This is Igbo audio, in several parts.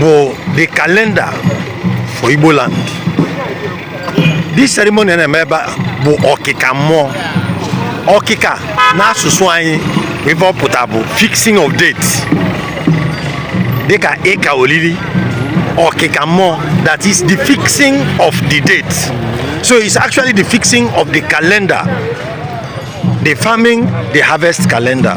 bụ the calendar for Igbo land this ceremony a na-eme ebe a bụ ọkịka mmụọ ọkịka n'asụsụ anyị ife ọ pụta bụ fixing of date dịka ịka olili ọkịka mmụọ that is the fixing of the date so it's actually the fixing of the calendar the farming the harvest calendar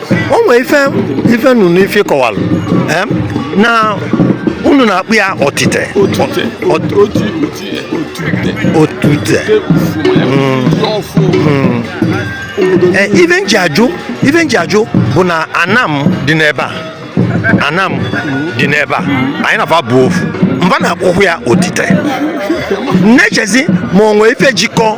o nwee ife ife m nụ n'ife ị kọwalụ em, na unu na-akpọ ya otite otute Ot- oti oti otute otute te ufu ya ji ọfụ obodo Eh, ife m ji ajụ ife m ji ajụ bụ na Anam dị n'ebe a Anam dị n'ebe a anyị na fa bụ ofu mba na-akpọkwu ya otite na-echezi ma o nwee ife jikọ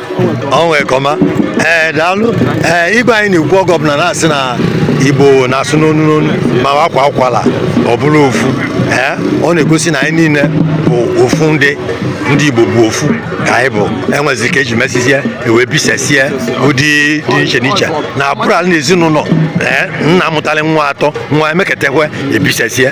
ọnwa ekọma ee eh, daalụ ee eh, igwe anyị na-ekwu oge ọbụla na-asị na Igbo na-asụ n'onu n'onu ma a kwaa ụkwala ọ bụrụ ofu ee eh, ọ na-egosi na anyị niile bụ ofu ndị ndị Igbo bụ ofu ka anyị bụ e nwezi ka e ji mesizie e wee bisesie ụdị dị iche n'iche na abụrụ ala na ezinụlọ ee nna mụtalụ nwa atọ fa emeketekwe ebisesie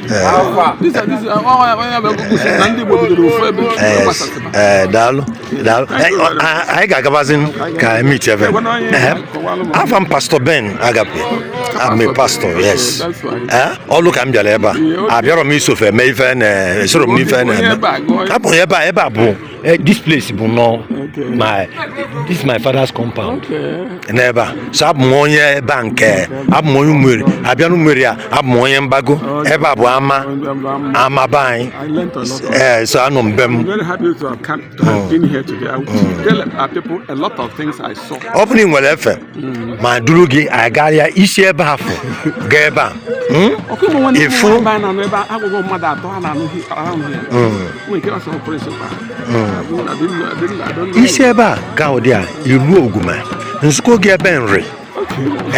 ee daalụ daalụ anyị ga-agabazi ka emit ebe afa m pastor Ben Agape abụ m pastor yes ọlụ ka m bịara ebe a abịarọ m iso fa eme ife na esorọ m n'ife a na-eme abụghị ebe a ebe a bụ Eh, this place bụ nnọọ my this is my father's compound n'ebe a so abụ m onye ebe a nke abụ m onye Umueri a bịa n'Umueri a abụ m onye mgbago ebe a bụ ama ama be anyị ee eh, so anọ m be m mm. mm. ọ bụrụ na i nwere efe ma duru gị agarịa i si ebe afụ gaa ebe a hmm? ịfụ hmm. hmm. i si ebe a gaa ụdị a i ruo Oguma m zikwuo gị ebe Nri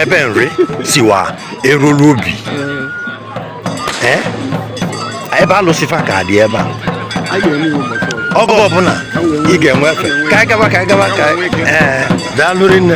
ebe Nri siwa eruru obi ebe alụsị fa ka dị ebe a oge ọbụla ị ga-enwe efe ka anyị gaba ka anyị gaba ka anyị ee daalụ rinne